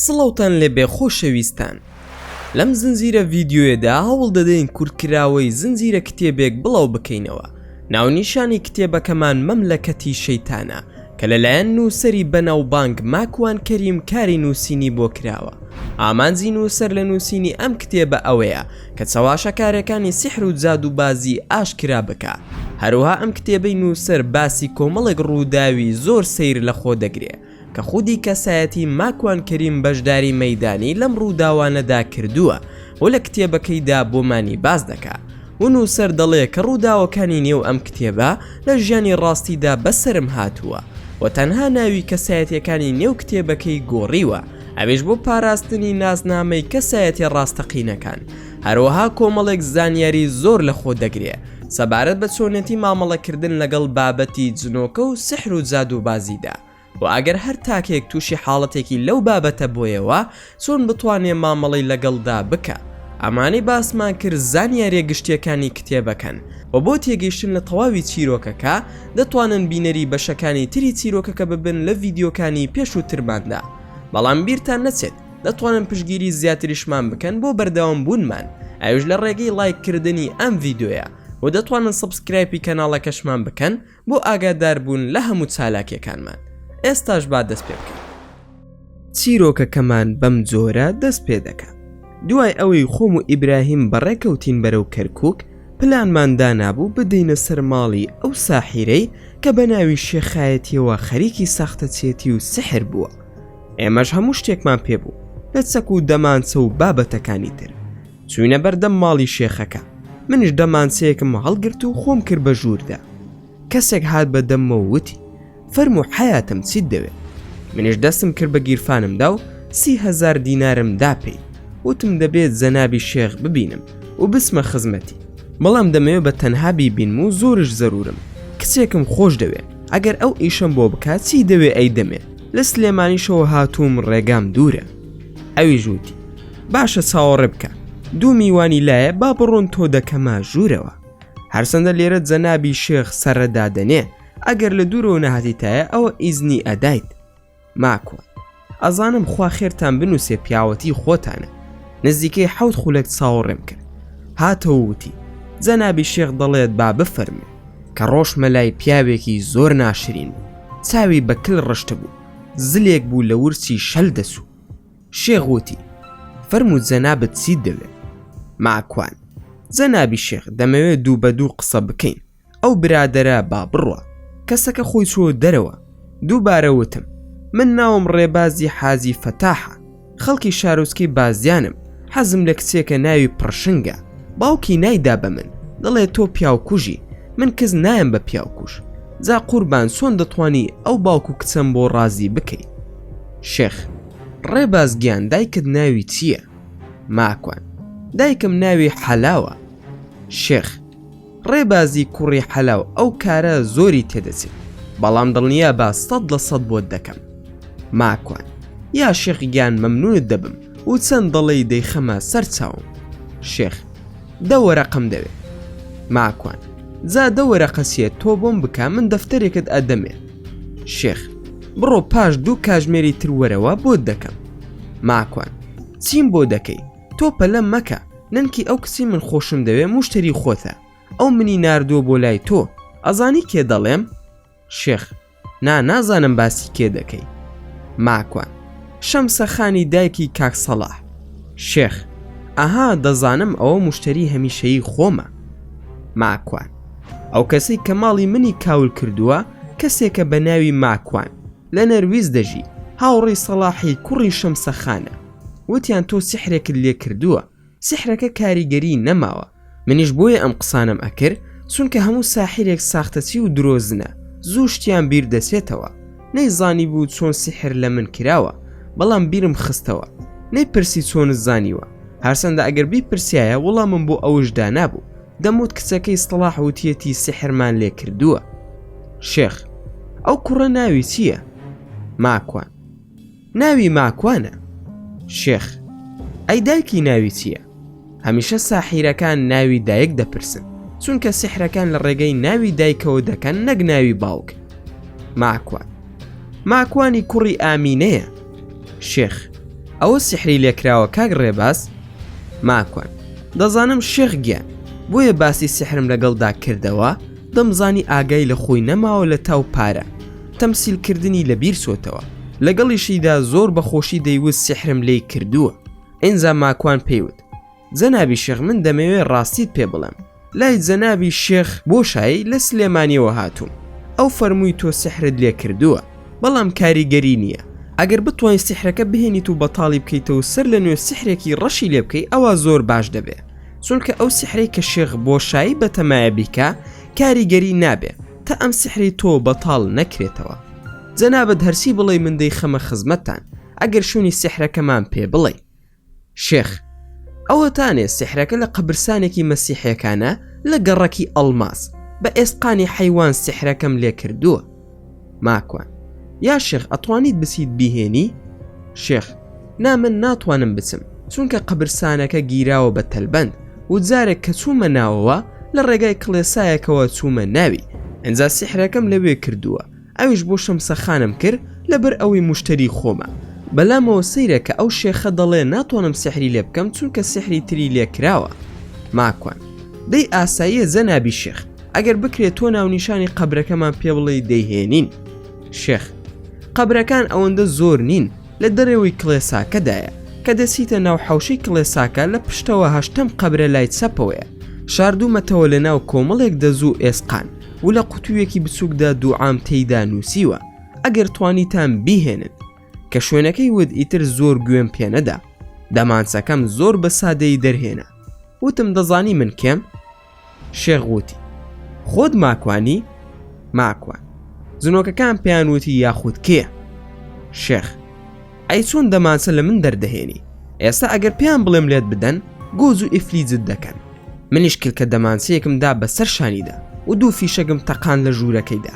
سڵاوتان لێبێ خۆشەویستان لەم زنجیرە ڤیدیۆیەدا هەوڵ دەدەین کورتکراوەی زنجیرە کتێبێک بڵاو بکەینەوە ناونیشانی کتێبەکەمان مەملەکەتی شەیتانە کە لەلایەن نووسەری بەناوبانگ ماکوان کەریم کاری نووسینی بۆ کراوە ئامانجی نووسەر لە نووسینی ئەم کتێبە ئەوەیە کە چەواشەکارەکانی سیحر و جادووبازی ئاشکرا بکا هەروەها ئەم کتێبەی نووسەر باسی کۆمەڵێک ڕووداوی زۆر سەیر لەخۆ دەگرێ کە خودی کەسایەتی ماکوان کەریم بەشداری مەیدانی لەم ڕووداوانەدا کردووە و لە کتێبەکەیدا بۆمانی باس دەکا و نووسەر دەڵێ کە ڕووداوەکانی نێو ئەم کتێبە لە ژیانی ڕاستیدا بەسەرم هاتووە و تەنها ناوی کەسایەتیەکانی نێو کتێبەکەی گۆڕیوە ئەویش بۆ پاراستنی ناسنامەی کەسایەتیە ڕاستەقینەکان هەروەها کۆمەڵێک زانیاری زۆر لە خۆ دەگرێ سەبارەت بە چۆنێتی مامەڵەکردن لەگەڵ بابەتی جنۆکە و سحر و جادووبازیدا و ئەگەر هەر تاکێک تووشی حاڵەتێکی لەو بابەتە بۆیەوە چۆن بتوانێ مامەڵەی لەگەڵدا بکا ئەمانەی باسمان کرد زانیاریە گشتیەکانی کتێبەکەن و بۆ تێگەیشتن لە تەواوی چیرۆکەکە دەتوانن بینەری بەشەکانی تری چیرۆکەکە ببن لە ڤیدیۆکانی پێشووترماندا بەڵام بیرتان نەچێت دەتوانن پشگیری زیاتریشمان بکەن بۆ بەردەوام بوونمان ئەوش لە ڕێگەی لایک کردنی ئەم ڤیددیویە و دەتوانن سبسکرایپی کەناڵەکەشمان بکەن بۆ ئاگاداربوون لە هەموو چالاکیەکانمان ئێستاش با دەست پێ بکەین چیرۆکەکەمان بەم جۆرە دەست پێ دەکە دوای ئەوەی خۆم و ئیبراهیم بەڕێکەوتین بەرەو کەرکک پلانمان دانابوو بدەینە سەر ماڵی ئەو ساحیرەی کە بە ناوی شێخایەتیەوە خەریکی ساختەچێتی و سحر بووە ئێمەش هەموو شتێکمان پێ بوو لە چەک و دەمانچە و بابەتەکانی تر چوینە بەردەم ماڵی شێخەکە منش دەمانچەیەکم هەڵگرت و خۆم کرد بە ژووردا کەسێک هات بە دەمەوە وتی فەرم و حیاتم چیت دەوێت منش دەستم کرد بە گیرفانمدا و سیهزار دینارم داپی وتم دەبێت زەنابی شێخ ببینم و بسمە خزمەتی بەڵام دەمەوێ بە تەنها بیبینم و زۆرش زەرورم کچێکم خۆش دەوێ ئەگەر ئەو ئیشم بۆ بکات چی دەوێ ئەی دەمێ لە سلێمانیشەوە هاتووم ڕێگام دوورە. ئەویش وتی، باشە چاوەڕێ بکە، دوو میوانی لایە با بڕۆن تۆ دەکەمە ژوورەوە. هەرچەندە لێرە جەنابی شێخ سەرە دادەنێ، ئەگەر لە دوورەوە نەهاتیتایە ئەوە ئیزنی ئەدایت. ماکوان، ئەزانم خوا خێرتان بنووسێ پیاوەتیی خۆتانە. نزیکەی حەوت خولەک چاوەڕێم کرد. هاتەوە وتی، جەنابی شێخ دەڵێت با بفەرموو. کە ڕۆشتمە لای پیاوێکی زۆر ناشرین بوو چاوی بە کل ڕشتبوو زلێک بوو لە ورچی شەل دەچوو شێخ وتی فەرموو جەنابت چیت دەوێت ماکوان جەنابی شێخ دەمەوێت دوو بە دوو قسە بکەین ئەو برادەرە با بڕوا کەسەکە خۆی چۆ دەرەوە دووبارە وتم من ناوم ڕێبازی حاجی فەتاحە خەڵکی شارۆچکەی بازیانم حەزم لە کچێکە ناوی پڕشنگە باوکی نایدا بە من دەڵێ تۆ پیاوکوژی من کەس نایم بە پیاوکوش جا قوربان چۆن دەتوانی ئەو باوک و کچەم بۆ ڕازی بکەیت شێخ ڕێباز گیان دایکت ناوی چییە ماکوان دایکم ناوی حەلاوە شێخ ڕێبازی کوڕی حەلاو ئەو کارە زۆری تێدەچێت بەڵام دڵنیابە سەد لە سەد بۆت دەکەم ماکوان یا شێخ گیان مەمنونت دەبم و چەند دەڵێی دەیخەمە سەر چاوم شێخ دە وەرەقەم دەوێ ماکوان جا دە وەرەقە چیە تۆ بۆم بکە من دەفتەرێکت ئەدەمێ شێخ بڕۆ پاش دوو کاژمێری تر وەرەوە بۆت دەکەم ماکوان چیم بۆ دەکەی تۆ پەلە مەکە نەنکی ئەو کچی من خۆشم دەوێ موشتری خۆتە ئەو منی ناردووە بۆ لای تۆ ئەزانی کێ دەڵێم شێخ نا نازانم باسی کێ دەکەی ماکوان شەمسەخانی دایکی کاکسەڵاح شێخ ئەها دەزانم ئەوە مشتری هەمیشەیی خۆمە ماکوان ئەو کەسەی کە ماڵی منی کاول کردووە کەسێکە بە ناوی ماکوان لە نەرویج دەژی، هاوڕێی سەڵاحی کوڕی شەمسە خانە، وتیان تۆ سیحرێکت لێ کردووە، سیحرەکە کاریگەریی نەماوە، منیش بۆیە ئەم قسانەم ئەکرد، چونکە هەموو ساحیرێک ساختەچی و درۆزنە، زوو شتیان بیر دەچێتەوە، نەیزانیبوو چۆن سیحر لە من کراوە، بەڵام بیرم خستەوە، نەیپرسی چۆنت زانیوە، هەرچەندە ئەگەر بیپرسیایە وڵامم بۆ ئەوش دانابوو. دەموت کچەکەی سڵاح وتیەتی سحرمان لێ کردووە شێخ ئەو کوڕە ناوی چییە؟ ماکوان ناوی ماکوانە شێخ ئەی دایکی ناوی چییە؟ هەمیشە ساحیرەکان ناوی دایک دەپرسن چونکە سحرەکان لە ڕێگەی ناوی دایکەوە دەکەن نەک ناوی باوک ماکوان ماکوانی کوڕی ئامینەیە شێخ ئەوە سحری لێکراوە کاک ڕێباز ماکوان. دەزانم شێخ گیان بۆیە باسی سیحرم لەگەڵدا کردەوە دەمزانی ئاگای لە خۆی نەماوە لە تاو پارە تەمسیل کردنی لە بیر چۆتەوە لەگەڵیشیدا زۆر بە خۆشی دەیوت سیحرم لێی کردووە ئینجا ماکوان پێی وت جەنابی شێخ من دەمەوێ ڕاستیت پێ بڵێم لای جەنابی شێخ بۆشایی لە سلێمانیەوە هاتووم ئەو فەرمووی تۆ سحرت لێ کردووە بەڵام کاریگەری نییە ئەگەر بتوانین سحرەکە بهێنیت و بەتاڵی بکەیتەوە سەر لە نوێ سحرێکی ڕەشی لێ بکەی ئەوە زۆر باش دەبێ چونکە ئەو سحرەی کە شێخ بۆشایی بەتەمایە بیکە کاریگەری نابێ تا ئەم سحری تۆ بەتاڵ نەکرێتەوە جەنابەت هەرسی بڵێ من دەی خەمە خزمەتتان ئەگەر شوێنی سحرەکەمان پێ بڵێ شێخ، ئەوەتانێ سیحرەکە لە قەبرسانێکی مەسیحیەکانە لە گەڕەکی ئەڵماس، بە ئێسقانی حەیوان سیحرەکەم لێ کردووە. ماکوان، یا شێخ ئەتوانیت بچیت بیهێنی؟ شێخ، نا من ناتوانم بچم، چونکە قەبرسانەکە گیراوە بە تەلبەند و جارێک کە چوومە ناوەوە لە ڕێگای کڵێسایەکەوە چوومە ناوی، ئینجا سیحرەکەم لەوێ کردووە، ئەویش بۆ شەمسە خانم کرد لەبەر ئەوەی موشتەری خۆمە بەلامەوە سەیرە کە ئەو شێخە دەڵێ ناتوانم سیحری لێ بکەم چونکە سیحری تری لێ کراوە ماکوان دەی ئاساییە جەنابی شێخ ئەگەر بکرێ تۆ ناونیشانی قەبرەکەمان پێ بڵێی دەیهێنین شێخ قەبرەکان ئەوەندە زۆر نین لە دەرەوەی کڵێساکەدایە کە دەچیتە ناو حەوشەی کڵێساکە لە پشتەوە هەشتەم قەبرە لای چەپەوەیە شاردوومەتەوە لە ناو کۆمەڵێک دەزوو ئێسقان و لە قوتوویەکی بچووکدا دوعام تێیدا نووسیوە ئەگەر توانیتان بیهێنن. کە شوێنەکەی وت ئیتر زۆر گوێم پێ نەدا. دەمانچەکەم زۆر بە سادەیی دەرهێنا. وتم دەزانی من کێم؟ شێخ وتی خۆت ماکوانی؟ ماکوان. جنۆکەکان پێیان وتی یاخود کێ؟ شێخ. ئەی چۆن دەمانچە لە من دەردەهێنی ئێستا ئەگەر پێیان بڵێم لێت بدەن گۆز و ئیفلیجت دەکەن منیش کلکە دەمانچەیەکم دا بەسەر شانیدا و دوو فیشەگم تەقان لە ژوورەکەیدا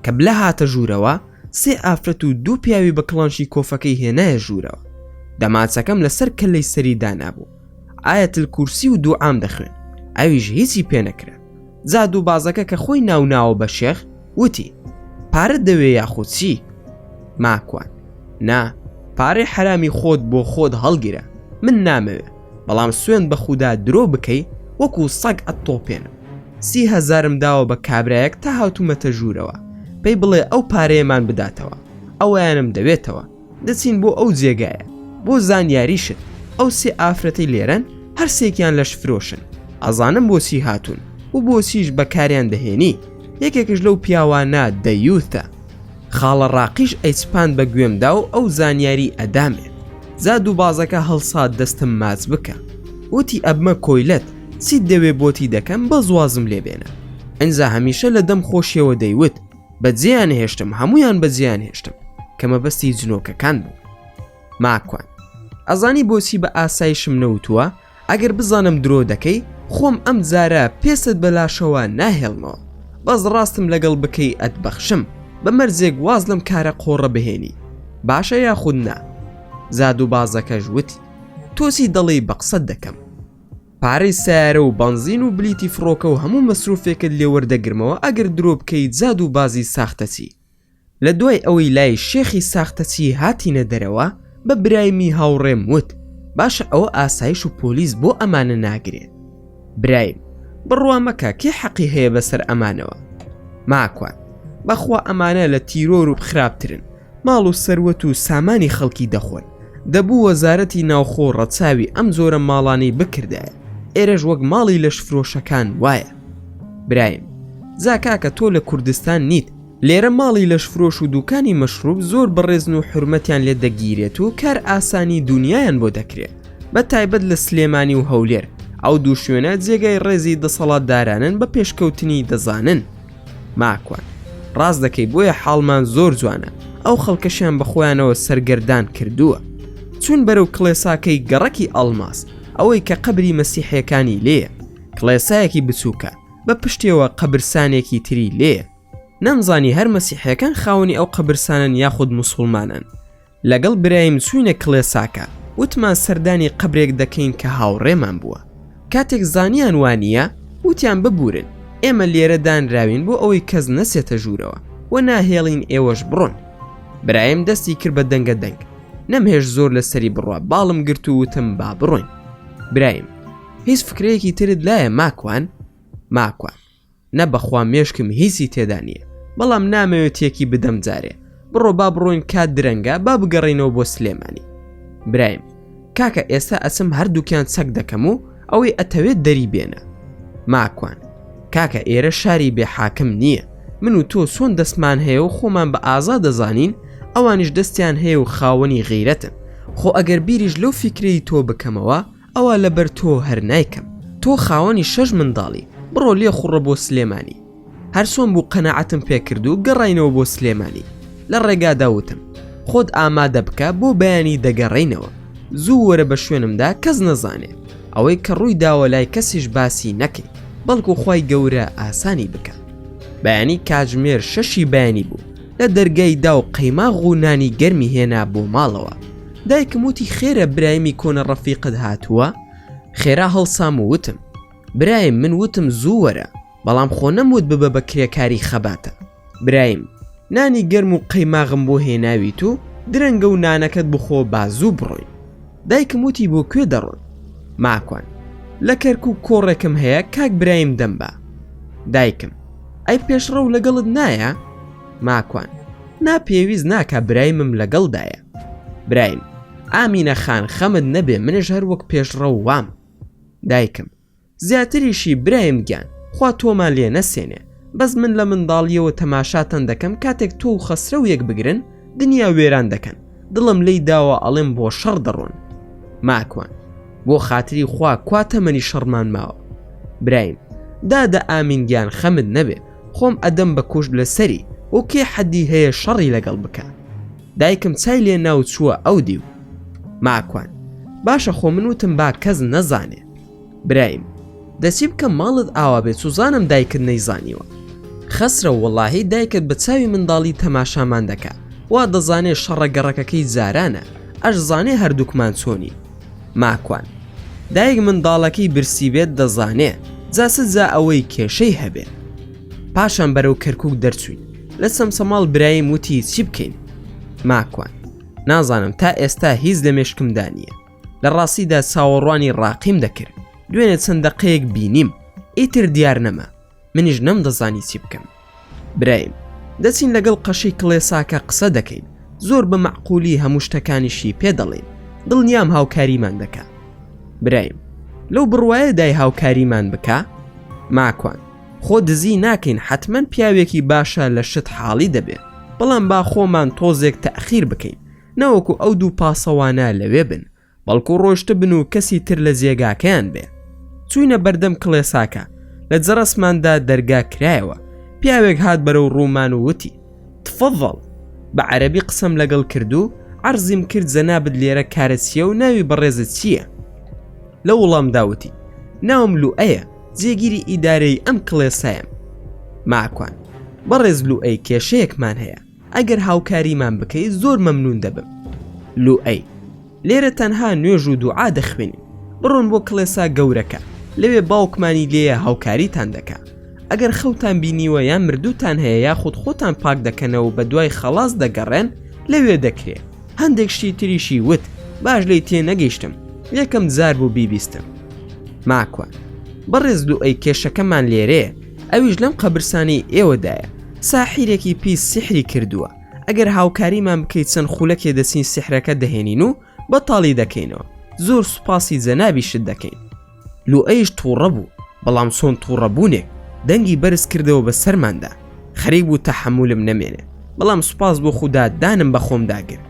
کە بلە هاتە ژوورەوە سێ ئافرەت و دوو پیاوی بە کڵانشی کۆفەکەی هێنایە ژوورەوە دەمانچەکەم لەسەر کەلەی سەری دانابوو ئایەت الکورسی و دوعام دەخوێن ئەویش هیچی پێ نەکرا جا دوو بازەکە کە خۆی ناوناوە بە شێخ وتی پارە دەوێ یاخود چی ماکوان نا پارەی حرامی خۆت بۆ خۆت هەڵگیرە من نامەوێ بەڵام سوێن بە خودا درۆ بکەی وەکو سەگ ئەتتۆپێنم سی هەزارم داوە بە کابرایەک تا هاتوومەتە ژوورەوە پێی بڵێ ئەو پارەیەمان بداتەوە ئەویانم دەوێتەوە دەچین بۆ ئەو جێگایە بۆ زانیاریشت ئەو سێ ئافرەتی لێرەن هەرسێکیان لەش فرۆشن ئازانم بۆچی هاتوون و بۆچیش بەکاریان دەهێنی یەکێکش لەو پیاوانە دەیوتە خاڵە ڕاقیش ئەیچپاند بە گوێمدا و ئەو زانیاری ئەدامێ زاد و بازەکە هەڵسات دەستم ماچ بکە وتی ئەبمە کۆیلەت چیت دەوێ بۆتی دەکەم بەزوازم لێبێنە ئەجا هەمیشە لە دەم خۆشیەوە دەیوت بە جێیان هێشتم هەمویان بە جێیان هێشتم کە مەبەستی جنۆکەکان بوو ماکوان ئەزانی بۆچی بە ئاسایشم نەوتووە ئەگەر بزانم درۆ دەکەی خۆم ئەم زارە پێست بەلاشەوە ناهێڵمەوە بەس ڕاستم لەگەڵ بکەی ئەتبەخشم بە مەرزێک واز لەم کارە قۆڕە بهێنی باشە یاخود نا زاد و بازەکەش وتی تۆسی دەڵی بە قسەت دەکەم پارەی سەیارە و بەنزین و بلیتی فڕۆکە و هەموو مەسروفێکت لێ وەردەگرمەوە ئەگەر درۆ بکەیت زاد و بازی ساختەچی. لە دوای ئەوەی لای شێخی ساختەچی هاتینە دەرەوە بە برایمی هاوڕێم وت باشە ئەوە ئاسایش و پۆلیس بۆ ئەمانە ناگرێت؟ برایم، بڕوا مەکە کێ حەقی هەیە بەسەر ئەمانەوە؟ ماکوان، بەخوا ئەمانە لە تیرۆر و خراپترن. ماڵ و سەروەت و سامانی خەڵکی دەخۆن، دەبوو وەزارەتی ناوخۆ ڕەچاوی ئەم جۆرە ماڵانەی بکردایە، ئێرەش وەک ماڵی لەشفرۆشەکان وایە. برایم، جا کاکە تۆ لە کوردستان نیت، لێرە ماڵی لەشفرۆش و دوکانی مەشروب زۆر بەڕێزن و حورمەتیان لێ دەگیرێت و کارئاسانی دونیایان بۆ دەکرێ، بە تایبەت لە سلێمانی و هەولێر، ئەو دوو شوێنە جێگای ڕێزی دەسەڵاتدارانن بە پێشکەوتنی دەزانن. ماکوان ڕاست دەکەی بۆیە حاڵمان زۆر جوانە ئەو خەڵکەشیان بەخۆیانەوە سەرگەردان کردووە چون بەرەو کڵێساکەی گەڕەکی ئەڵماس ئەوەی کە قەبری مەسیحەکانی لێە کڵێسایەکی بچووکە بە پشتێەوە قەبرسانێکی تری لێە نەمزانی هەر مەسیحەکان خاوەنی ئەو قەبرسانن یاخود مسلمانن لەگەڵ برایم چووینە کڵێساکە، وتمان سەردانی قەبرێک دەکەین کە هاوڕێمان بووە. کاتێک زانیان وا نییە، وتیان ببوورن، ئێمە لێرە دانراوین بۆ ئەوەی کەس نەچێتە ژوورەوە و ناهێڵین ئێوەش بڕۆن. برایم دەستی کرد بە دەنگە دەنگ. نەمهێشت زۆر لەسەری بڕوا، باڵم گرت و وتم با بڕۆین. برایم، هیچ فکرەیەکی ترت لایە ماکوان؟ ماکوان، نە بەخوا مێشکم هیچی تێدا نیە بەڵام نامەوێ تێکی بدەم جارێ بڕۆ با بڕۆین کات درەنگە با بگەڕێینەوە بۆ سلێمانی برایم کاکە ئێستا ئەچم هەردووکیان چەک دەکەم و ئەوەی ئەتەوێت دەری بێنە ماکوان کاکە ئێرە شاری بێ حاکم نییە من و تۆ سۆن دەستمان هەیە و خۆمان بە ئازا دەزانین ئەوانیش دەستیان هەیە و خاوەنی غیرەتن خۆ ئەگەر بیریش لەو فیکرەی تۆ بکەمەوە ئەوە لەبەر تۆ هەر نایکەم تۆ خاوەنی شەش منداڵی بڕۆ لێ خوڕە بۆ سلێمانی هەرچۆن بوو قەنەعەتم پێکرد و گەڕاینەوە بۆ سلێمانی لە ڕێگادا وتم خۆت ئامادە بکە بۆ بەیانی دەگەڕینەوە زوو وەرە بە شوێنمدا کەس نەزانێ ئەوەی کە ڕووی داوە لای کەسیش باسی نەکەی بەڵکو خی گەورە ئاسانی بکە بەیانی کاتژمێر شەشی بەیانی بوو لە دەرگای دا و قەیماغ و نانی گەرمی هێنا بۆ ماڵەوە دایکم وتی خێرە برایمی کۆنە ڕەفیقت هاتووە؟ خێرا هەڵسام و وتم برایم من وتم زوو وەرە بەڵام خۆ نەموت ببە بە کرێکاری خەباتە برایم نانی گەرم و قەیماغم بۆ هێناویت و درەنگە و نانەکەت بخۆ با زوو بڕۆین. دایکم وتی بۆ کوێ دەڕۆن؟ ماکوان، لە کەرکوک کۆڕێکم هەیە کاک برایم دەم با. دایکم، ئەی پێشڕەو لەگەڵت نایە؟ ماکوان، نا پێویست ناکا برایمم لەگەڵدایە. برایم، ئامینە خان خەمت نەبێ منش هەر وەک پێشڕەو وام. دایکم، زیاتریشی برایم گیان خوا تۆمان لێ نەسێنێ بەس من لە منداڵیەوە تەماشاتان دەکەم کاتێک تۆو خەسرەو یەک بگرن دنیا وێران دەکەن دڵم لێی داوە ئەڵێم بۆ شەڕ دەڕۆن ماکوان بۆ خاتری خوا کوا تەمەنی شەڕمان ماوە برایم دادە ئامین گیان خەمت نەبێ خۆم ئەدەم بە کوشت لە سەری و کێ حەدی هەیە شەڕی لەگەڵ بکە دایکم چای لێ ناو چووە ئەو دیو ماکوان باشە خۆ من وتم با کەس نەزانێ برایم دە چی بکەم ماڵت ئاوا بێ سوزانم دایکت نەیزانیوە خەسرە وەڵاهی دایکت بە چاوی منداڵی تەماشامان دەکا وا دەزانێ شەڕە گەڕەکەکەی جارانە ئەش زانێ هەردووکمان چۆنی ماکوان دایک منداڵەکەی برسی بێت دەزانێ جا چ جا ئەوەی کێشەی هەبێ پاشان بەرەو کەرکک دەرچوین لە سەمسەماڵ برایم وتی چی بکەین ماکوان نازانم تا ئێستا هیچ لە مێشکمدا نییە لە ڕاستیدا چاوەڕوانی ڕاقیم دەکرد دوێنێ چەند دەقەیەک بینیم ئیتر دیار نەما منیش نەم دەزانی چی بکەم برایم دەچین لەگەڵ قەشی کڵێساکە قسە دەکەین زۆر بە معقولی هەموو شتەکانیشی پێ دەڵێن دڵنیام هاوکاریمان دەکە برایم لەو بڕواایە دای هاوکاریمان بکە ماکوان خۆ دزی ناکەین حتمما پیاوێکی باشە لە شت حاڵی دەبێت بەڵام با خۆمان تۆزێک تەخیر بکەین نەوەکو ئەو دوو پاسەوانە لەوێ بن بەڵکو ڕۆشتبن و کەسی تر لە جێگاکەیان بێ چوینە بەردەم کڵێساکە لە جەرەسماندا دەرگا کرایەوە پیاوێک هات بەرەو ڕوومان و وتی تفەڤەڵ بە عەرەبی قسەم لەگەڵ کردو عەرزیم کرد جەنابت لێرە کارە چییە و ناوی بەڕێزت چییە لە وڵام داوتی ناوم لوئەیە جێگیری ئیدارەی ئەم کڵێسایم ماکوان بەڕێز لوئەی کێشەیەکمان هەیە ئەگەر هاوکاریمان بکەی زۆر مەمنون دەبم. لوئەی، لێرە تەنها نوێژ و دوعا دەخوێنین، بڕۆن بۆ کڵێسا گەورەکە، لەوێ باوکمانی لێیە هاوکاریتان دەکا. ئەگەر خەوتان بینیوە یان مردووتان هەیە یاخود خۆتان پاک دەکەنەوە و بەدوای خەڵاس دەگەڕێن لەوێ دەکرێ. هەندێک شتی تریشی وت باش لێی تێنەگەیشتم، یەکەم جار بوو بیبیستم. ماکوان، بەڕێز لوئەی کێشەکەمان لێرەیە، ئەویش لەم قەبرسانەی ئێوەدایە ساحیرێکی پیس سیحری کردووە ئەگەر هاوکاریمان بکەیت چەند خولەکێ دەچین سیحرەکە دەهێنین و بەتاڵی دەکەینەوە زۆر سوپاسی جەنابیشت دەکەین لوئەیش توڕە بوو بەڵام چۆن توڕە بوونێک دەنگی بەرز کردەوە بە سەرماندا خەریک بوو تەحەمولم نەمێنێ بەڵام سوپاس بۆ خودا دانم بە خۆم داگر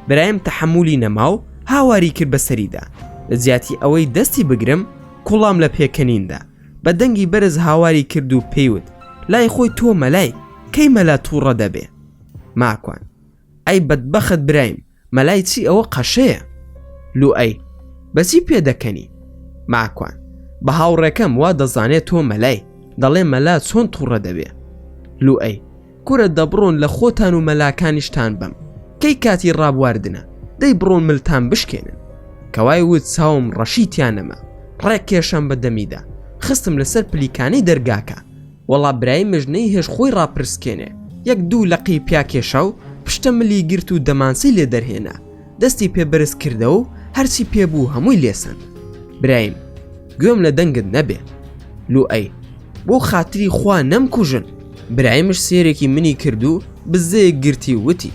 برایم تەحەمولی نەما و هاواری کرد بەسەریدا لە جیاتی ئەوەی دەستی بگرم کوڵام لە پێکەنیندا بە دەنگی بەرز هاواری کرد و پێی وت، لای خۆی تۆ مەلای، کەی مەلا تووڕە دەبێ؟ ماکوان، ئەی بەدبەخت برایم، مەلای چی ئەوە قەشەیە. لوئەی، بە چی پێ دەکەنی؟ ماکوان، بە هاوڕێکەم وا دەزانێ تۆ مەلای، دەڵێ مەلا چۆن تووڕە دەبێ؟ لوئەی. کورە دەبڕۆن لە خۆتان و مەلاکانیشتان بەم کەی کاتی ڕابواردنە دەی بڕۆن ملتان بشکێنن کەوای وت چاوم ڕەشی تیانەما ڕێک کێشەم بە دەمیدا خستم لەسەر پلیکانەی دەرگاکە وەڵا برای مژنەی هێش خۆی ڕاپرسکێنێ یەک دوو لەقی پیا کێشا و پشتە ملی گرت و دەمانچەی لێ دەرهێنا دەستی پێ بەرز کردەوە و هەرچی پێ بوو هەمووی لێ سەند. برایم، گوێم لە دەنگت نەبێ. لوئەی، بۆ خاتری خوا نەمکوژن! برایمش سێرێکی منی کرد و بزەیەک گرتی و وتی،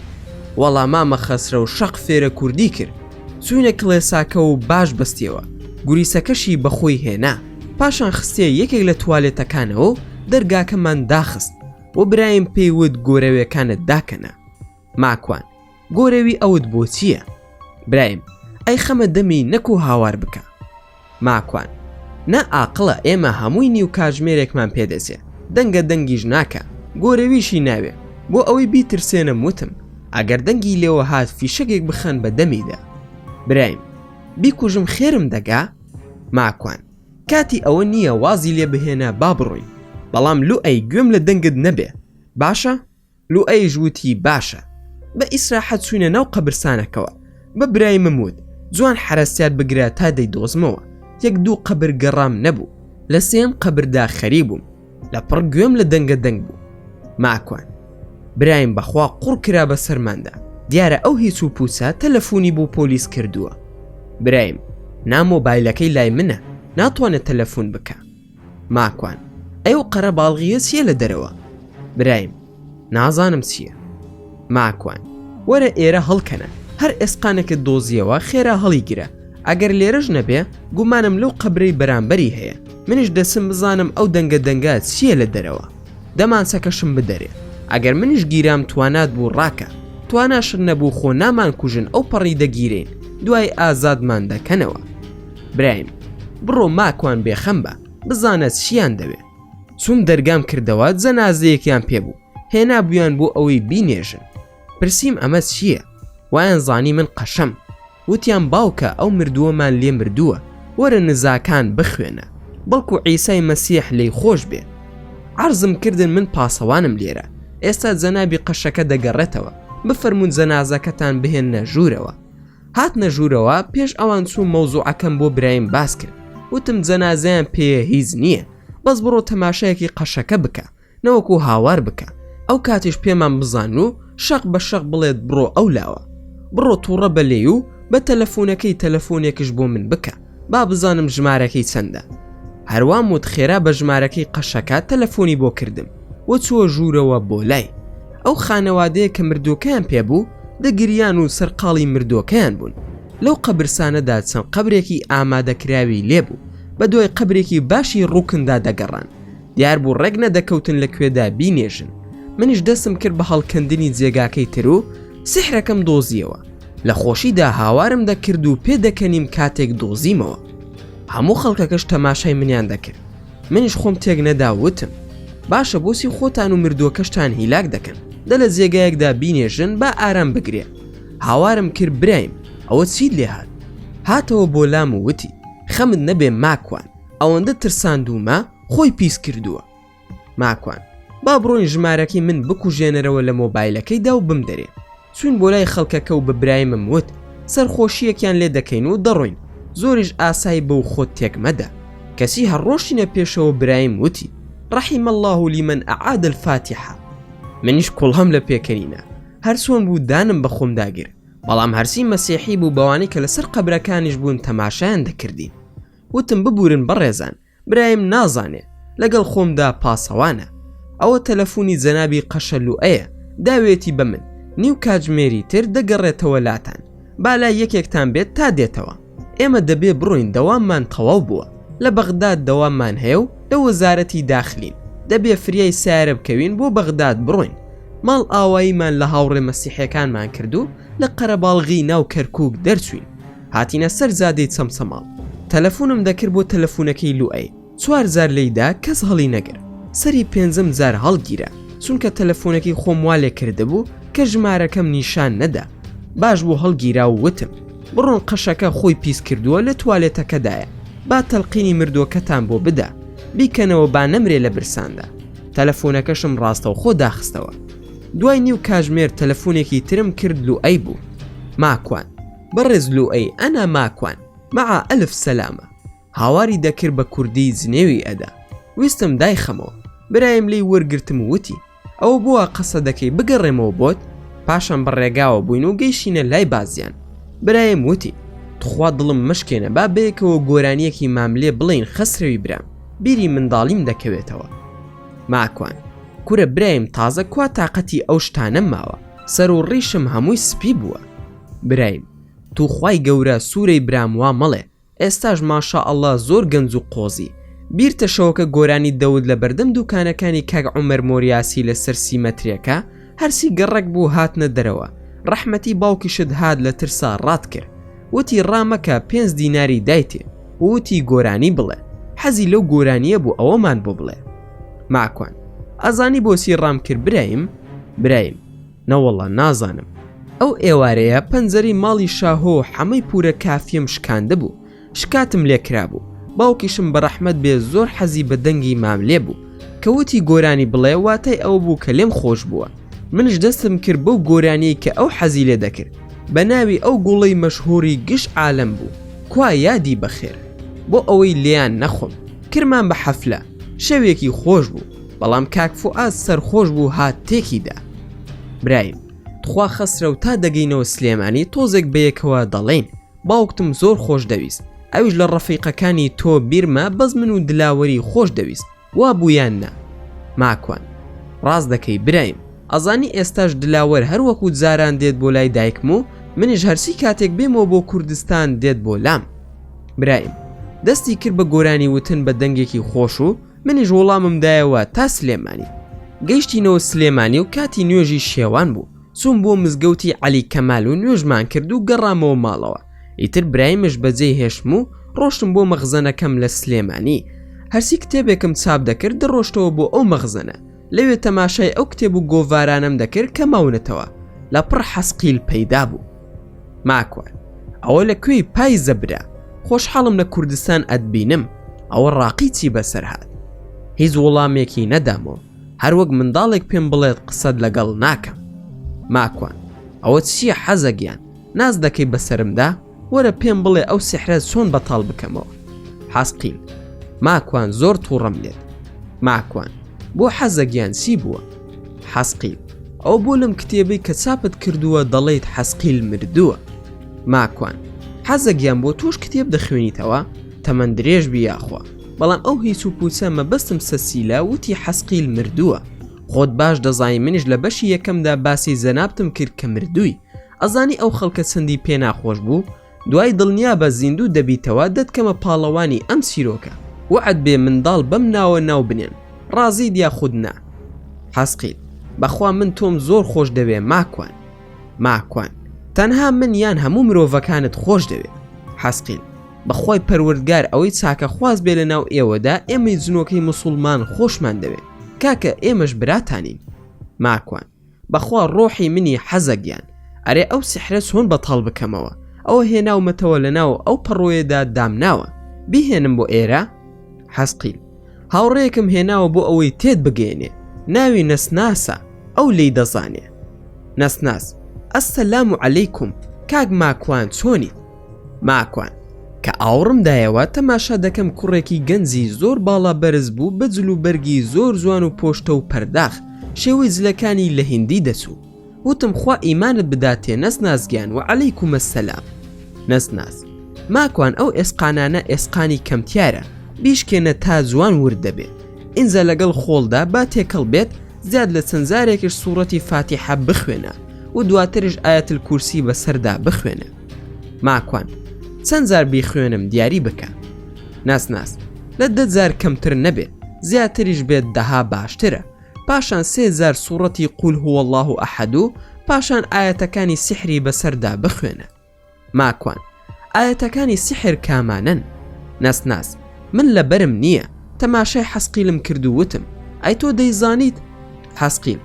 وەڵا مامە خەسرەو شەق فێرە کوردی کرد. چووینە کڵێساکە و باش بەستیەوە، گوریسەکەشی بە خۆی هێنا. پاشان خستیە یەکێک لە توالێتەکانەوە و دەرگاکەمان داخست و برایم پێی وت گۆرەوێکانت داکەنە. ماکوان، گۆرەوی ئەوت بۆ چییە؟ برایم، ئەی خەمە دەمی نەکوو هاوار بکە. ماکوان، نا ئاقڵە ئێمە هەمووی نیو کاژمێرێکمان پێ دەچێ، دەنگە دەنگیش ناکا، گۆرەویشی ناوێ، بۆ ئەوەی بیترسێنم وتم ئەگەر دەنگی لێوە هات فیشەگێک بخەن بە دەمیدا. برایم، بیکوژم خێرم دەگا؟ ماکوان، کاتی ئەوە نییە وازی لێ بهێنە با بڕۆین، بەڵام لۆ ئەی گوێم لە دەنگت نەبێ باشە؟ لوئەیش وتی باشە بە ئیسراحەت چوینە ناو قەبرسانەکەوە بە برایمم وت جوان حەرەسیات بگرە تا دەیدۆزمەوە یەک دوو قەبر گەڕام نەبوو لە سێیەم قەبردا خەری بووم لە پڕ گوێم لە دەنگە دەنگ بوو ماکوان برایم بەخوا قوڕ کرا بە سەرماندا دیارە ئەو هیچ و پوچە تەلەفونی بۆ پۆلیس کردووە برایم نا مۆبایلەکەی لای منە ناتوانێت تەلەفون بکە ماکوان، ئەی ئەو قەرە باڵغییە چییە لە دەرەوە؟ برایم، نازانم چییە. ماکوان، وەرە ئێرە هەڵکەنە، هەر ئێسقانێکت دۆزییەوە خێرا هەڵیگرە، ئەگەر لێرەش نەبێ گومانم لەو قەبرەی بەرامبەری هەیە، منیش دەچم بزانم ئەو دەنگە دەنگە چییە لە دەرەوە. دەمانچەکەشم بدەرێ، ئەگەر منیش گیرام توانات بوو ڕاکە، تواناشت نەبوو خۆ نامانکوژن ئەوپەڕی دەگیرێین، دوایی ئازادمان دەکەنەوە. برایم بڕۆ ماکوان بێخەم بە بزانە چیان دەوێ چوم دەرگام کردەوە جەنازەیەکیان پێبوو هێنا بویان بۆ ئەوەی بینێژن پرسییم ئەمە چییە وایان زانی من قەشەم وتیان باوکە ئەو مردووەمان لێ مردووە وەرە نزاکان بخوێنە بەڵکو عیسای مەسیح لی خۆش بێ عرزم کردن من پاسەوانم لێرە ئێستا جەنابی قەشەکە دەگەڕێتەوە بفەرمونون جەنازەکەتان بهێنە ژوورەوە هاتنە ژوورەوە پێش ئەوان چوو مەوزوعەکەم بۆ برایم باس کرد وتم جەنازەیان پێە هیچ نییە بەس بڕۆ تەماشایەکی قەشەکە بکە نەوەکو هاوار بکە ئەو کاتیش پێمان بزان و شەق بە شەق بڵێت بڕۆ ئەو لاوە بڕۆ تووڕە بە لێ و بە تەلەفۆنەکەی تەلەفۆنێکش بۆ من بکە با بزانم ژمارەکەی چەندە هەروام وت خێرا بە ژمارەکەی قەشەکە تەلەفۆنی بۆ کردم وە چووە ژوورەوە بۆ لای ئەو خانەوادەیە کە مردووەکەیان پێبوو دەگریان و سەرقاڵی مردووەکەیان بوون لەو قەبرسانەدا چەند قەبرێکی ئامادەکراوی لێبوو بە دوای قەبرێکی باشی ڕووکندا دەگەڕان دیار بوو ڕێک نەدەکەوتن لە کوێدا بینێژن منیش دەسم کرد بە هەڵکەندنی جێگاکەی تر و سیحرەکەم دۆزیەوە لە خۆشیدا هاوارم دەکرد و پێ دەکەنیم کاتێک دۆزیمەوە هەموو خەڵکەکەش تەماشای منیان دەکرد منیش خۆم تێک نەدا وتم باشە بۆسی خۆتان و مردووەکەشتان هیلاک دەکەن دە لە جێگایەکدا بینێژن با ئارام بگرێ هاوارم کرد برایم ئەوە چیت لێ هاات هاتەوە بۆ لام و وتی خەمت نەبێ ماکوان ئەوەندە ترساندومە خۆی پیس کردووە ماکوان، با بڕۆین ژمارەکەی من بکوژێنەرەوە لە مۆبایلەکەیدا و بمدەرێ. چووین بۆ لای خەڵکەکە و بە برایمم وت، سەرخۆشییەکیان لێ دەکەین و دەڕۆین، زۆریش ئاسای بە و خۆت تێک مەدە. کەچی هەر ڕۆشتینە پێشەوە برایم وتی، رحم اللە لمن اعاد الفاتحە. منیش کوڵەم لە پێکەنینا. هەر چۆن بوو دانم بە خۆمدا گرت. بەڵام هەرچی مەسیحی بوو بەوانەی کە لەسەر قەبرەکانیش بوون تەماشایان دەکردین. وتم ببوورن بەڕێزان، برایم نازانێ لەگەڵ خۆمدا پاسەوانە ئەوە تەلەفونی جەنابی قەشەلوئەیە داوێتی بە من نیو کاجمێری تر دەگەڕێتەوە لاتان بالای یەکێکتان بێت تا دێتەوە ئێمە دەبێ بڕۆین دەواممان تەواو بووە لە بەغداد دەواممان هەیە و لە وەزارەتی داخلین دەبێ فریای سارە بکەوین بۆ بەغداد بڕۆین ماڵ ئاواییمان لە هاوڕێ مەسیحەکانمان کردو لە قەرەباڵغی ناو کەرکوک دەرچوین هاتینە سەر جادەی چەمچەماڵ تەلەفونم دەکرد بۆ تەلەفونەکەی لوئەی چوار جار لێی دا کەس هەڵی نەگر سەری پێنجەم جار هەڵگیرا چونکە تەلەفونەکەی خۆم وا لێ کردبوو کە ژمارەکەم نیشان نەدا باش بوو هەڵگیرا و وتم بڕۆن قەشەکە خۆی پیس کردووە لە توالێتەکەدایە با تەلقینی مردووەکەتان بۆ بدا بیکەنەوە با نەمرێ لە برساندا تەلەفونەکەشم ڕاستەوخۆ داخستەوە دوای نیو کاژمێر تەلەفونێکی ترم کرد لوئەی بوو ماکوان بەڕێز لوئەی ئەنا ماکوان مع ئەلف سەلامە هاواری دەکرد بە کوردی جنێوی ئەدا ویستم دایخەمەوە برایم لێی وەرگرتم و وتی ئەوە بۆوا قەسە دەکەی بگەڕێمەوە بۆت پاشان بە ڕێگاوە بووین و گەیشتینە لای بازیان برایم وتی تخوا دڵم مەشکێنە با بەیەکەوە گۆرانیەکی ماملێ بڵێین خەسرەوی برام بیری منداڵیم دەکەوێتەوە ماکوان کورە برایم تازە کوا تاقەتی ئەو شتانەم ماوە سەر و ڕیشم هەمووی سپی بووە. برایم توخوای گەورە سورەی برام وا مەڵێ ئێستاش ماشاء اللە زۆر گەنج و قۆزی بیرتە شەوەکە گۆرانی دەوت لەبەردەم دوکانەکانی کاک عومەر مۆریاسی لەسەر سیمەترێکە هەرسی گەڕەک بوو هاتنە دەرەوە ڕەحمەتی باوکیشت هات لە ترسا ڕات کرد وتی ڕا مەکە پێنج دیناری دایتێ ووتی گۆرانی بڵێ حەزی لەو گۆرانیە بوو ئەوەمان بۆ بڵێ ماکوان ئەزانی بۆچی ڕام کرد برایم برایم نەوەڵا نازانم ئەو ئێوارەیە پەنجەرەی ماڵی شاهۆ و حەمەی پورە کافیم شکاندبوو شکاتم لێکرابوو باوکیشم بەڕەحمەت بێ زۆر حەزی بە دەنگی ماملێ بوو کە وتی گۆرانی بڵێ واتای ئەوە بوو کە لێم خۆش بووە منش دەستم کرد بەو گۆرانیەی کە ئەو حەزی لێ دەکرد بە ناوی ئەو گوڵەی مەشهوری گش عالەم بوو کوا یادی بەخێر بۆ ئەوەی لێیان نەخۆم کرمان بە حەفلە شەوێکی خۆش بوو بەڵام کاک فوئاد سەرخۆش بوو هات تێکی دا. برایم تخوا خەسرەو تا دەگەینەوە سلێمانی تۆزێک بەیەکەوە دەڵێین باوکتم زۆر خۆش دەویست ئەویش لە ڕەفیقەکانی تۆ بیرمە بەس من و دلاوەری خۆش دەویست وا بوو یان نا ماکوان ڕاست دەکەی برایم ئەزانی ئێستاش دلاوەر هەر وەکوو جاران دێت بۆ لای دایکم و منیش هەرچی کاتێک بێمەوە بۆ کوردستان دێت بۆ لام برایم دەستی کرد بە گۆرانی وتن بە دەنگێکی خۆش و منیش وڵامم دایەوە تا سلێمانی. گەیشتینەوە سلێمانی و کاتی نوێژی شێوان بوو چووم بۆ مزگەوتی عەلی کەمال و نوێژمان کرد و گەڕامەوە ماڵەوە ئیتر برایمش بەجێی هێشتم و ڕۆشتم بۆ مەخزەنەکەم لە سلێمانی هەرچی کتێبێکم چاپ دەکرد دەڕۆشتەوە بۆ ئەو مەخزەنە لەوێ تەماشای ئەو کتێب و گۆڤارانەم دەکرد کە ماونەتەوە لە پڕ حەسقیل پەیدا بوو ماکوان ئەوە لە کوێی پای زەبرا خۆشحاڵم لە کوردستان ئەتبینم ئەوە ڕاقیچی بەسەر هاات هیچ وڵامێکی نەدامەوە هەروەک منداڵێک پێم بڵێت قسەت لەگەڵ ناکەم ماکوان ئەوە چییە حەزەگیان ناز دەکەی بەسرمدا؟ وەرە پێم بڵێ ئەو سحرە چۆن بەتاڵ بکەمەوە حاسقیل ماکوان زۆر تووڕەم لێت ماکوان بۆ حەزەگیان چی بووە حەسقیل ئەو بۆ لەم کتێبەی کە چاپت کردووە دەڵیت حەسقیل مردووە ماکوان حەزەگیان بۆ تۆش کتێب دەخوێنیتەوە تەمەەن درێژ بی یاخوا بەڵام ئەو هیچ و پوچە مەبەستم سەسیلا وتی حەسقیل مردووە خۆت باش دەزای منیش لە بەشی یەکەمدا باسی زەنابتم کرد کە مردووی ئەزانی ئەو خەڵکە چەندی پێ ناخۆش بوو؟ دوای دڵنیابە زیندوو دەبیتەوە دەتکەمە پاڵەوانی ئەم چیرۆکە. وەعد بێ منداڵ بەم ناوە ناو بنێن. ڕازیت یاخود نا؟ حەزقیت، بەخوا من تۆم زۆر خۆش دەوێ ماکوان. ماکوان، تەنها من یان هەموو مرۆڤەکانت خۆش دەوێ. حەزقیل، بەخوای پەروەردگار ئەوەی چاکەخواز بێ لەناو ئێوەدا ئێمەی جنۆکەی موسوڵمان خۆشمان دەوێ. کاکە ئێمەش براتانین. ماکوان، بەخوا ڕۆحی منی حەزە گیان. ئەرێ ئەو سحرە چۆن بەتاڵ بکەمەوە ئەوە هێناومەتەوە لەناو ئەو پەڕۆیەدا دامناوە بیهێنم بۆ ئێرە؟ حەزقیل، هاوڕێیەکم هێناوە بۆ ئەوەی تێت بگەیەنێ ناوی نەسناسە ئەو لێی دەزانێ. نەسناس، السلام علیکم کاک ماکوان چۆنیت؟ ماکوان، کە ئاوڕم دایەوە تەماشا دەکەم کوڕێکی گەنجی زۆر باڵا بەرز بوو بە جل و بەرگی زۆر جوان و پۆشتە و پەرداخ شێوەی جلەکانی لە هیندی دەچوو وتم خوا ئیمانت بداتێ نەسناس گیان وعلیکم السلام نەسناس، ماکوان ئەو ئێسقانانە ئێسقانی کەمتیارە بیشکێنە تا جوان ورد دەبێ ئینجا لەگەڵ خۆڵدا با تێکەڵ بێت زیاد لە چەند جارێکش سوڕەتی فاتیحە بخوێنە و دواتریش ئایەت الکورسی بەسەردا بخوێنە. ماکوان چەند جار بیخوێنم دیاری بکە ناس ناس لە دە جار کەمتر نەبێت زیاتریش بێت دەها باشترە پاشان سێ جار سوڕەتی قول هو الله و ئەحد و پاشان ئاەتەکانی سحری بەسەردا بخوێنە ماکوان ئاەتەکانی سحر کامانەن ناس ناس من لە بەرم نییە تەماشای حەسقیلم کردو وتم ئەی تۆ دەیزانیت حەسقیل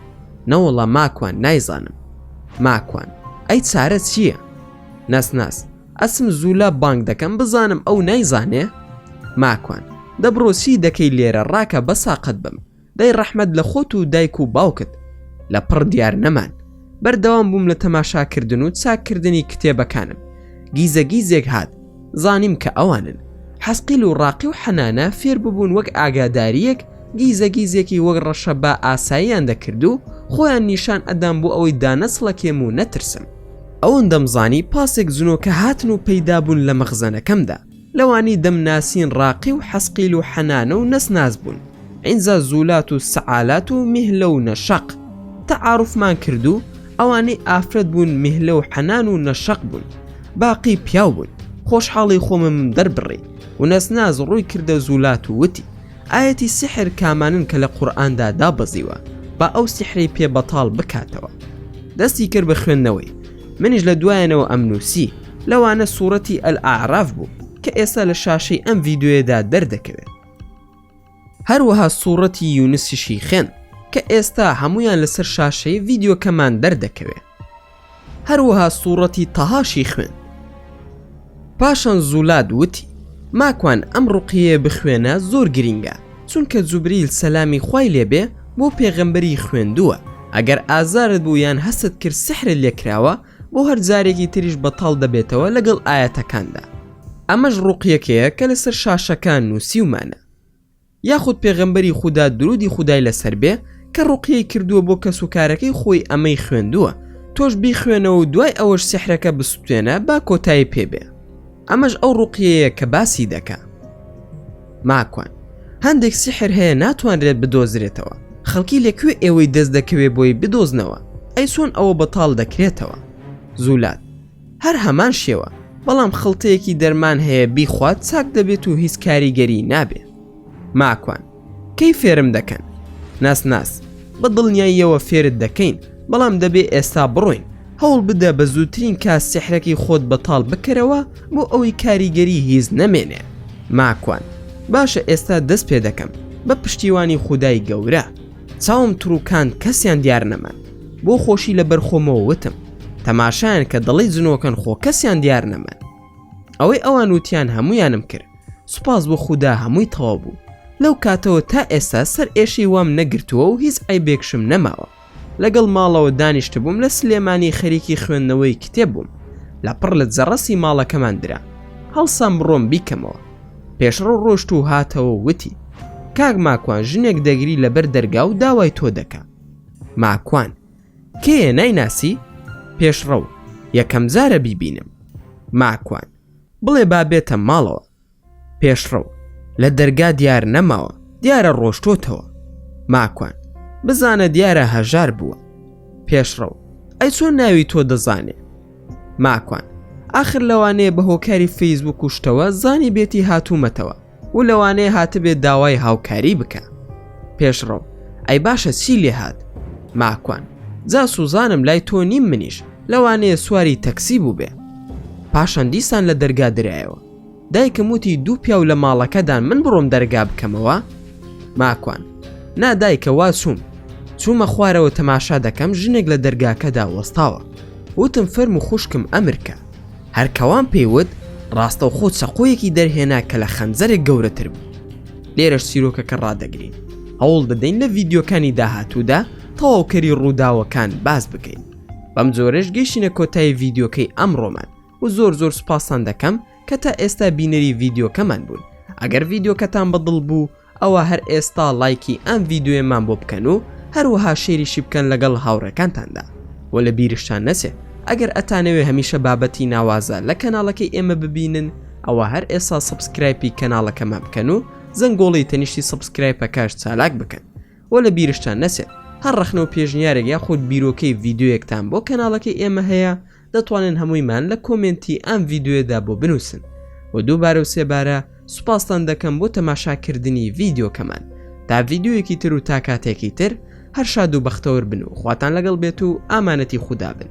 نەوەڵا ماکوان نایزانم ماکوان ئەی چارە چییە؟ نەسناس ئەسم زوولا بانگ دەکەم بزانم ئەو نایزانێ ماکوان دەبڕۆسی دەکەی لێرە ڕاکە بە ساقەت بم دەی ڕەحمەت لە خۆت و دایک و باوکت لە پڕ دیار نەمان بەردەوام بووم لە تەماشاکردن و چاککردنی کتێبەکانم گیزە گیزێک هات زانیم کە ئەوانن. حەسقیل و ڕاقی و حەنانە فێر ببوون وەک ئاگادارییەک گیزە گیزێکی وەک ڕەشە با ئاساییان دەکرد و خۆیان نیشان ئەدام بۆ ئەوەی دانەسڵەکێم و نەترسم. ئەوەندەم زانی پاسێک جنۆکە هاتن و پەیدا بوون لە مەخزەنەکەمدا. لەوانی دەمناسین ڕاقی و حەسقیل و حەنانە و نەسناس بوون، ئینجا زولات و سەعالات و میهلە و نەشەق. تەعاروفمان کرد و ئەوانەی ئافرەت بوون میهلە و حەنان و نەشەق بوون باقی پیاو بوون خۆشحاڵی خۆمم دەربڕی ونەس ناز ڕووی کردە زوولات و وتی ئایەتی سیحر کامانن کە لە قورئاندا دابەزیوە با ئەو سیحرەی پێ بەتاڵ بکاتەوە دەستی کرد بە خوێندنەوەی منیش لە دوایانەوە ئەم نووسی لەوانە سوڕەتی ئەلئاعراف بوو کە ئێستا لە شاشەی ئەم ڤیدیۆیەدا دەردەکەوێت. هەروەها سوڕەتی یونسیشی خێند کە ئێستا هەمویان لەسەر شاشەی ڤیددیوکەمان دەردەکەوێ هەروەها سوڕەتی تەهاشی خوێن پاشان زولاد وتی ماکوان ئەم ڕقیە بخوێنە زۆر گرینگە چونکە جوبریل سەلامی خوای لێبێ بۆ پێغەمبەری خوێندووە ئەگەر ئازارت بوو یان هەست کرد سحرت لێکراوە بۆ هەر جارێکی تریش بەتاڵ دەبێتەوە لەگەڵ ئایەتەکاندا ئەمەش ڕوقیەکەیە کە لەسەر شاشەکان نووسیومانە یاخود پێغەمبەری خودا درودی خودای لەسەر بێ کە ڕوقیەی کردووە بۆ کەس و کارەکەی خۆی ئەمەی خوێندووە تۆش بیخوێنەوە و دوای ئەوەش سحرەکە بسوتێنە با کۆتایی پێبێ ئەمەش ئەو ڕوقیەیە کە باسی دەکا ماکوان هەندێک سیحر هەیە ناتوانرێت بدۆزرێتەوە خەڵکی لەکوێ ئێوەی دەست دەکەوێ بۆی بدۆزنەوە ئەی سۆن ئەوە بەتاڵ دەکرێتەوە زولات هەر هەمان شێوە بەڵام خڵتەیەکی دەرمان هەیە بیخوات چاک دەبێت و هیچ کاریگەری نابێ ماکوان کەی فێرم دەکەن؟ ناس ناس بە دڵنیاییەوە فێرت دەکەین بەڵام دەبێ ئێستا بڕۆین هەوڵ بدە بە زووترین کا سحرەکەی خۆت بەتاڵ بکەرەوە بۆ ئەوەی کاریگەری هیز نەمێنێ ماکوان باشە ئێستا دەست پێ دەکەم بە پشتیوانی خودای گەورە چاوم تڕووکان کەسیان دیار نەمان بۆ خۆشی لە بەرخۆمەوە وتم تەماشایان کە دەڵی جنۆکەن خۆ کەسیان دیار نەمان ئەوەی ئەوان وتیان هەمویانم کرد سوپاس بۆ خودا هەمووی تەواو بوو لەو کاتەوە تا ئێستا سەر ئێشەی وام نەگرتووە و هیچ عیبێکشم نەماوە لەگەڵ ماڵەوە دانیشتبووم لە سلێمانی خەریکی خوێندنەوەی کتێب بووم لە پڕ لە جەڕەسی ماڵەکەمان درا هەڵسام بڕۆم بیکەمەوە پێشڕەو ڕۆشت و هاتەوە وتی کاک ماکوان ژنێک دەگری لەبەر دەرگا و داوای تۆ دەکا ماکوان کێ نایناسی پێشڕەو یەکەم جارە بیبینم ماکوان بڵێ با بێتە ماڵەوە پێشڕەو لە دەرگا دیار نەماوە دیارە ڕۆشتۆتەوە ماکوان بزانە دیارە هەژار بووە پێشڕەو ئەی چۆن ناوی تۆ دەزانێ ماکوان ئاخر لەوانەیە بە هۆکاری فەیسبوک و شتەوە زانی بێتی هاتوومەتەوە و لەوانەیە هاتبێ داوای هاوکاری بکە پێشڕەو ئەی باشە چی لێ هات ماکوان جا سوزانم لای تۆ نیم منیش لەوانەیە سواری تەکسی بوو بێ پاشان دیسان لە دەرگا درایەوە دایکم وتی دوو پیاو لە ماڵەکەدان من بڕۆم دەرگا بکەمەوە ماکوان نادایکە وا چووم چوومە خوارەوە تەماشا دەکەم ژنێک لە دەرگاکەدا وەستاوە وتم فەرم و خوشکم ئەمرکە هەر کەوان پێی وت، ڕاستەوخۆ چەقۆیەکی دەرهێنا کە لە خەنجەرێک گەورەتر بوو. لێرەش چیرۆکەکە ڕادەگرین. هەوڵ دەدەین لە ڤیدیۆکانی داهاتوودا تەواوکەری ڕووداوەکان باس بکەین. بەم جۆرەش گەیشتینە کۆتایی ڤیدیۆکەی ئەمڕۆمان و زۆر زۆر سوپاستان دەکەم کە تا ئێستا بینەری ڤیدیۆکەمان بوون. ئەگەر ڤیدیۆکەتان بە دڵ بوو، ئەوا هەر ئێستا ڵایکی ئەم ڤیدیۆیەمان بۆ بکەن و هەروەها شەیریشی بکەن لەگەڵ هاوڕێکانتاندا وە لە بیرشتان نەچێ ئەگەر ئەتانەوێ هەمیشە بابەتی ناوازە لە کەناڵەکەی ئێمە ببینن ئەوا هەر ئێسا سەبسکرایپی کەناڵەکەمان بکەن و زەنگۆڵی تەنیشتی سەبسکرایپەکەش چالاک بکەن وە لە بیرشتان نەچێت هەر ڕەخنە و پێشنیارێک یاخود بیرۆکەی ڤیدیۆیەکتان بۆ کەناڵەکەی ئێمە هەیە دەتوانن هەموویمان لە کۆمێنتی ئەم ڤیدیۆیەدا بۆ بنووسن و دووبارە و سێبارە سوپاستان دەکەم بۆ تەماشاکردنی ڤیدیۆکەمان تا ڤیدیۆیەکی تر و تا کاتێکی تر هەر شاد و بەختەوەر بن و خواتان لەگەڵ بێت و ئامانەتی خودا بن